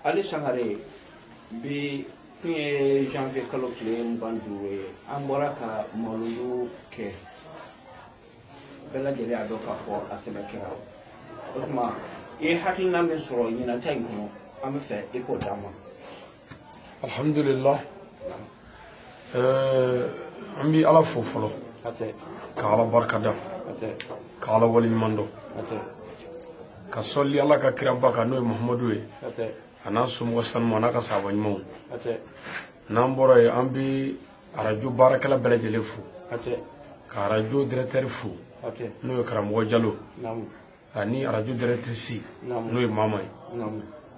ali sangare bi tun ye janvier kalo tile mugan duuru ye an bɔra ka mawuludu kɛ bɛɛ lajɛlen y'a dɔn k'a fɔ a sɛbɛ kɛra o tuma i ye hakilina min sɔrɔ ɲinan ta in kɔnɔ an bɛ fɛ i k'o d'an ma alhamdulillah an bɛ ala fo fɔlɔ ka ala barikada ka ala waleɲuman dɔn ka sɔli ala ka kiraba kan n'o ye mahamadu ye a n'a somɔgɔ sanuman a n'a ka sahaba ɲumanw n'an bɔra yen an bɛ arajo baarakɛla bɛɛ lajɛlen fo ka arajo directeur fo n'o ye karamɔgɔ jalo ani arajo directrice n'o ye mama ye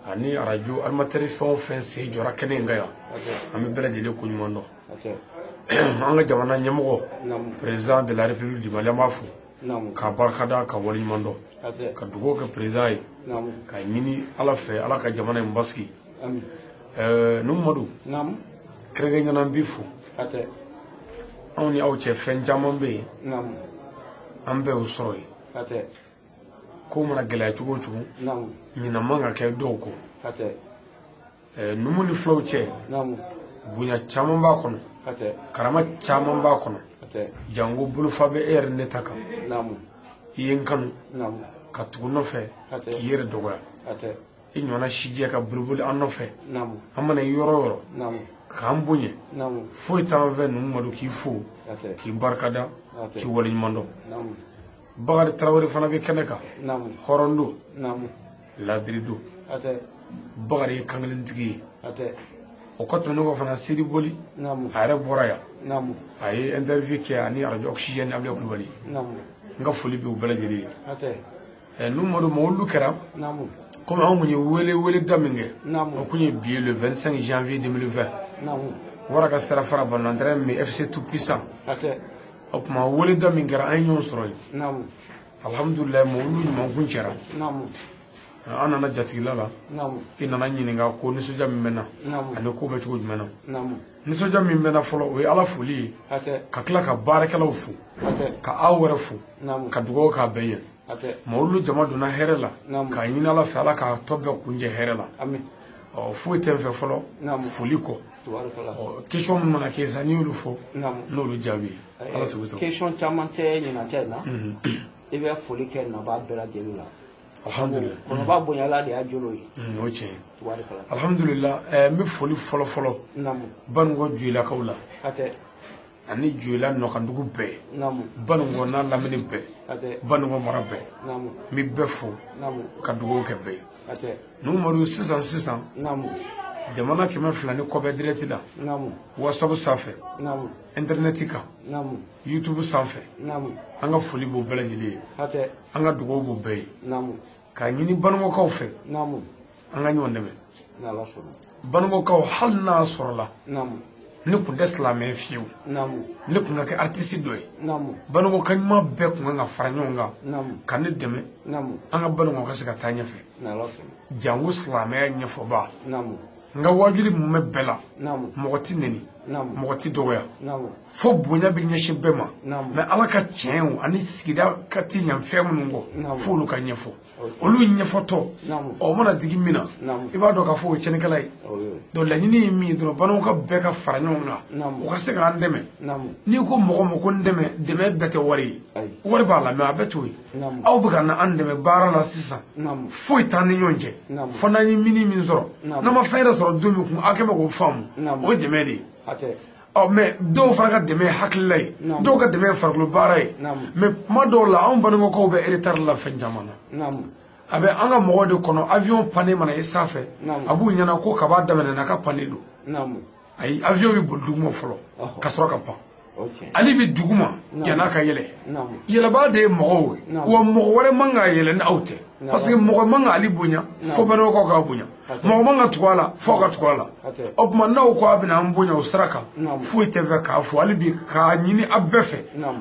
ani arajo animateur fɛn o fɛn sen jɔra kɛnɛ in kan yan an bɛ bɛɛ lajɛlen ko ɲuman dɔn an ka jamana ɲɛmɔgɔ président de la république du mali an b'a fo k'a barikada k'a waleɲuman dɔn ka dugawu kɛ président ye k'a ɲini ala fɛ ala ka jamana in basigi numu madu kɛrɛnkɛrɛnnenya an b'i fo anw ni aw cɛ fɛn caman bɛ yen an bɛɛ y'o sɔrɔ yen ko mana gɛlɛya cogo o cogo ɲina man ka kɛ dɔw kɔ numu ni fulaw cɛ bonya caman b'a kɔnɔ karama caman b'a kɔnɔ janko bolofa bɛ e yɛrɛ ne ta kan i ye n kanu ka tugu n nɔfɛ k'i yɛrɛ dɔgɔya i ɲɔgɔnna sijɛ ka boliboli an nɔfɛ an mana ye yɔrɔ o yɔrɔ k'an bonya foyi t'an fɛ numu madu k'i fo k'i barikada k'i waleɲuman dɔn bakari tarawele fana bɛ kɛnɛ kan hɔrɔn don ladiri don bakari ye kankelentigi ye o kɔ tɛmɛnen kɔ fana sidi boli a yɛrɛ bɔra yan a ye interview kɛ ani arajo oxygène abulayi kulubali n ka foli bɛ u bɛɛ lajɛlen ye ɛ numadu mawuludu kɛra naamu komi anw kun ye wele wele da min kɛ Naamu. o kun ye bi ye le 25 janvier 2020 naamu wara ka sira fara banantɛrɛ min fc tout puissant hakɛ o tuma wele da min kɛra an ye ɲɔgɔn sɔrɔ yen naamu alhamdulilayi mawuludu ɲuman kuncɛra naamu an nana jatigila la naamu i nana ɲininka ko nisɔndiya min bɛ n na naamu ani ko bɛ cogo jumɛn na naamu nisɔndiya min bɛ n na fɔlɔ o ye ala foli ye ka tila ka baarakɛlaw fo ka aw yɛrɛ fo ka dugawu k'a bɛɛ ye mawuludu jama donna hɛrɛ la k'a ɲini ala fɛ ala k'a tɔ bɛɛ kuncɛ hɛrɛ la ɔ foyi tɛ n fɛ fɔlɔ foli kɔ question minnu mana kɛ sisan n'i y'olu fɔ n'olu jaabi ala sago i sago question caman tɛ ɲinan ta in na i bɛ foli kɛ nabaa bɛɛ lajɛlen la alhamdulilayi kɔnɔba bonyala de y'a jolo ye mm, o tiɲɛ alhamdulilayi eh, n bɛ foli fɔlɔ fɔlɔ banikɔ joyilakaw la ani joyila nɔkandugu bɛɛ banikɔ n'a lamini bɛɛ banikɔ mara bɛɛ n bɛ bɛɛ fo ka dugawu kɛ bɛɛ ye numadu sisan sisan jamana kɛmɛ fila ni kɔ bɛ dirɛti la whatsapp sanfɛ intɛrinɛti kan youtube sanfɛ an ka foli b'o bɛɛ lajɛlen ye an ka dugawu b'o bɛɛ ye k'a ɲini banikɔkaw fɛ an ka ɲɔgɔn dɛmɛ banikɔkaw hali n'a sɔrɔla ne kun tɛ silamɛ fiyewu ne kun ka kɛ aritisi dɔ ye banikɔka ɲuman bɛɛ kun kan ka fara ɲɔgɔn kan ka ne dɛmɛ an ka banikɔ ka se ka taa ɲɛfɛ jango silamɛya ɲɛfɔba n ka waajuli mumɛ bɛɛ la mɔgɔ tɛ neni mɔgɔ tɛ dɔgɔya fo bonya bɛ ɲɛsin bɛɛ ma mɛ ala ka tiɲɛw ani sigida ka tiɲɛ fɛn minnu kɔ fo olu ka ɲɛfɔ olu ɲɛfɔtɔ o mana digi min na i b'a dɔn k'a fɔ o ye cɛnikɛla ye donc laɲini ye min ye dɔrɔn banikɔka bɛɛ ka fara ɲɔgɔn kan u ka se k'an dɛmɛ n'i ko mɔgɔ ma ko n dɛmɛ dɛmɛ bɛɛ tɛ wari ye wari b'a la mɛ a bɛɛ t'o ye aw bɛ ka na an dɛmɛ baara la sisan foyi t'an ni ɲɔgɔn cɛ fo n'an ye mini min sɔrɔ n'an ma fɛn yɛrɛ sɔrɔ don min kun aw kɛ bɛ k'o faamu o ye dɛmɛ de ye ɔ mɛ dɔw fana ka dɛmɛ ye hakilila ye dɔw ka dɛmɛ ye farikolo baara ye mɛ kuma dɔw la anw banikɔkaw bɛ eretari la fɛn caman na a bɛ an ka mɔgɔw de kɔnɔ avion pannen mana ye sanfɛ a b'u ɲɛna ko kab'a daminɛna k'a pannen don ayi avion bɛ boli duguma fɔlɔ ka sɔrɔ ka pan ale bɛ duguma yan'a ka yɛlɛ yɛlɛbaa de ye mɔgɔw ye wa mɔgɔ wɛrɛ man k'a yɛlɛ ni aw tɛ parce que mɔgɔ man ka ale bonya fo banikɔkaw k'a bonya mɔgɔ man ka tugu a la fo ka tugu a la o tuma n'aw ko a bɛna an bonya o sira kan foyi tɛ n fɛ k'a fɔ hali bi k'a ɲini a bɛɛ fɛ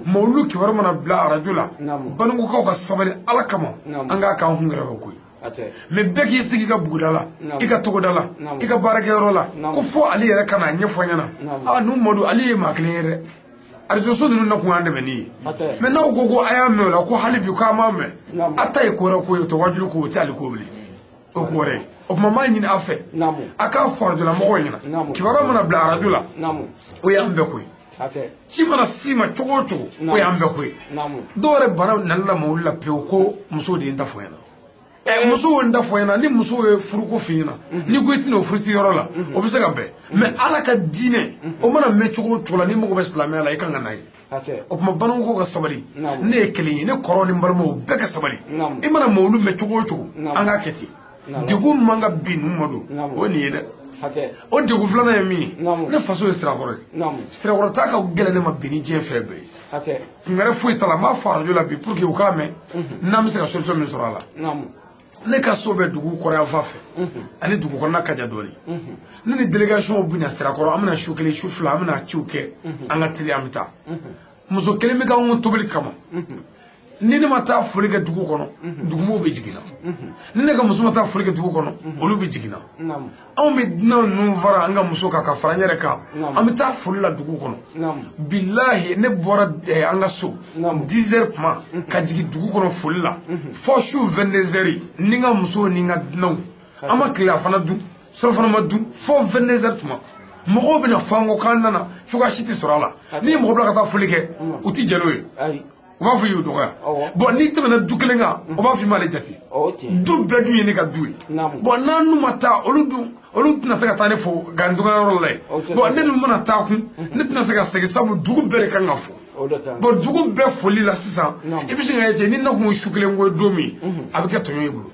mawulu kibaru mana bila arajo la banikɔkaw ka sabali ala kama an k'a k'an kun yɛrɛ fɛ koyi mɛ bɛɛ k'i sigi i ka buguda la i ka togoda la i ka baarakɛyɔrɔ la ko fo ale yɛrɛ ka n'a ɲɛfɔ ɲɛna a numadu ale ye maa kelen ye dɛ arajoso ninnu na kun y'an dɛmɛni ye mɛ n'aw ko ko a y'a mɛn o la ko hali bi k'an m'a mɛn a ta ye ko wɛrɛ ko ye o tɛ waajuli ko o tɛ ala ko bilen o ko wɛrɛ o tuma m'a ɲini a fɛ a k'a fɔ arajolamɔgɔw ɲɛna kibaruya mana bila arajo la o y'an bɛɛ ko ye ci mana s'i ma cogo o cogo o y'an bɛɛ ko ye dɔw yɛrɛ banna nali la mawulu la pewu ko muso de ye n ta fɔ ɲɛna ɛ muso ye n ta fɔ ɲɛna ni muso ye furuko f'i ɲɛna n'i ko i tɛna o furuti yɔrɔ la o bɛ se ka bɛn mɛ ala ka diinɛ o mana mɛn cogo o cogo la n'i mago bɛ silamɛya la i kan ka na yen o tuma banikɔkaw ka sabali ne ye kelen ye ne kɔrɔ ni balimaw bɛɛ ka sabali i mana mawulu mɛn cogo o cogo an k'a kɛ ten degun man ka bin ninnu ma don o ye nin ye dɛ o degun filanan ye min ye ne faso ye sirakɔrɔ ye sirakɔrɔ taa ka gɛlɛn ne ma bi ni diɲɛ fɛn bɛɛ ye kun wɛrɛ foyi t'a la n b'a fɔ arajo la bi pour que u k'a mɛn n'an bɛ se ka solution min sɔrɔ a la ne ka so bɛ dugu kɔrɔn yan fan fɛ ani dugu kɔnɔna ka jan dɔɔni ne ni délégation bɛ na sirakɔrɔ an bɛna su kelen su fila an bɛna ciw kɛ an ka teli an bɛ taa muso kelen bɛ ka anw tobili kama ni ne ma taa foli kɛ dugu kɔnɔ dugumɔgɔw bɛ jigin n na ni ne ka muso ma taa foli kɛ dugu kɔnɔ olu bɛ jigin n na anw bɛ dunan ninnu fara n ka muso kan ka fara n yɛrɛ kan an bɛ taa foli la dugu kɔnɔ bilahi ne bɔra eh, an ka so 10 heures tuma ka jigin dugu kɔnɔ foli la fo su 22 heures ni n ka muso ni n ka dunanw an ma tilelafana dun surɔfana ma dun fo 22 heures tuma mɔgɔw bɛna fɔ an kɔ k'an nana cogoya si tɛ sɔrɔ a la n'i ye mɔgɔ bila ka taa foli kɛ u tɛ jɛn n'o ye u b'a fɔ i y'u dɔgɔya bɔn n'i tɛmɛna du kelen kan u b'a fɔ i m'ale jate du bɛɛ dun ye ne ka du ye bɔn n'an n'u ma taa olu dun olu tɛna se ka taa ne fo ka n dogoyɔrɔ la yen bɔn ne dun mana taa kun ne tɛna se ka segin sabu dugu bɛɛ de kan ka fo bɔn dugu bɛɛ foli la sisan i bɛ se k'a ye ten ni ne tun ye su kelen ko ye don min a bɛ kɛ tɔɲɔ i bolo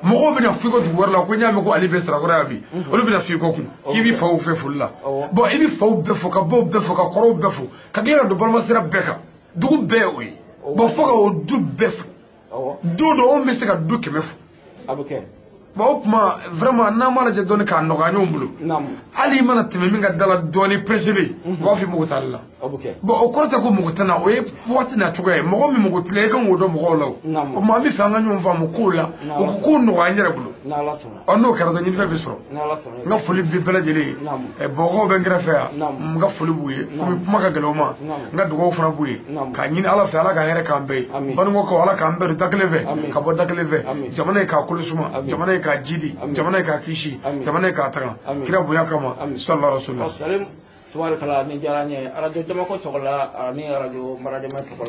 mɔgɔw bɛna f'i kɔ dugu wɛrɛ la ko n y'a mɛn ko ale bɛ sirakɔrɔ yan bi mhm. olu bɛna f'i kɔ kun k'i b'i faw fɛ foli la bɔn i bɛ faw bɛɛ fo ka baw bɛɛ fo ka kɔrɔw bɛɛ fo ka tila ka don balimasira bɛɛ kan dugu bɛɛ o ye bɔn fo ka o du bɛɛ fo don dɔ anw bɛ se ka du kɛmɛ fo bɔn o tuma vraiment n'an b'a lajɛ dɔɔni k'a nɔgɔya ɲɔgɔn bolo hali i mana tɛmɛ min ka da la dɔɔni pressé bɛ yen u b'a f'i mago t'ale la bɔn o kɔrɔ tɛ ko mago tɛ n na o ye waati n'a cogoya ye mɔgɔ min mago t'i la i kan k'o dɔn mɔgɔw la o tuma an b'a fɛ an ka ɲɔgɔn faamu kow la o ko kow nɔgɔya an yɛrɛ bolo ɔ n'o kɛra dɔrɔn ɲinifɛn bɛ sɔrɔ n ka foli bɛ bɛɛ lajɛlen ye ɛ mɔgɔw bɛ n kɛrɛfɛ yan n ka foli b'u ye komi kuma ka gɛlɛn u ma n ka dugawu fana b'u ye k'a ɲini ala fɛ ala ka hɛrɛ k'an bɛɛ ye banikɔkaw ala k'an bɛɛ don da kelen fɛ ka bɔ da kelen fɛ jamana ye k'a kolo suma jamana ye k'a jidi jamana ye k'a kisi jamana ye k'a tanga kira bonya kama sallallahu tubaarikala nin diyara n ye arajo jamako tɔgɔ la ani arajo maradema tɔgɔ la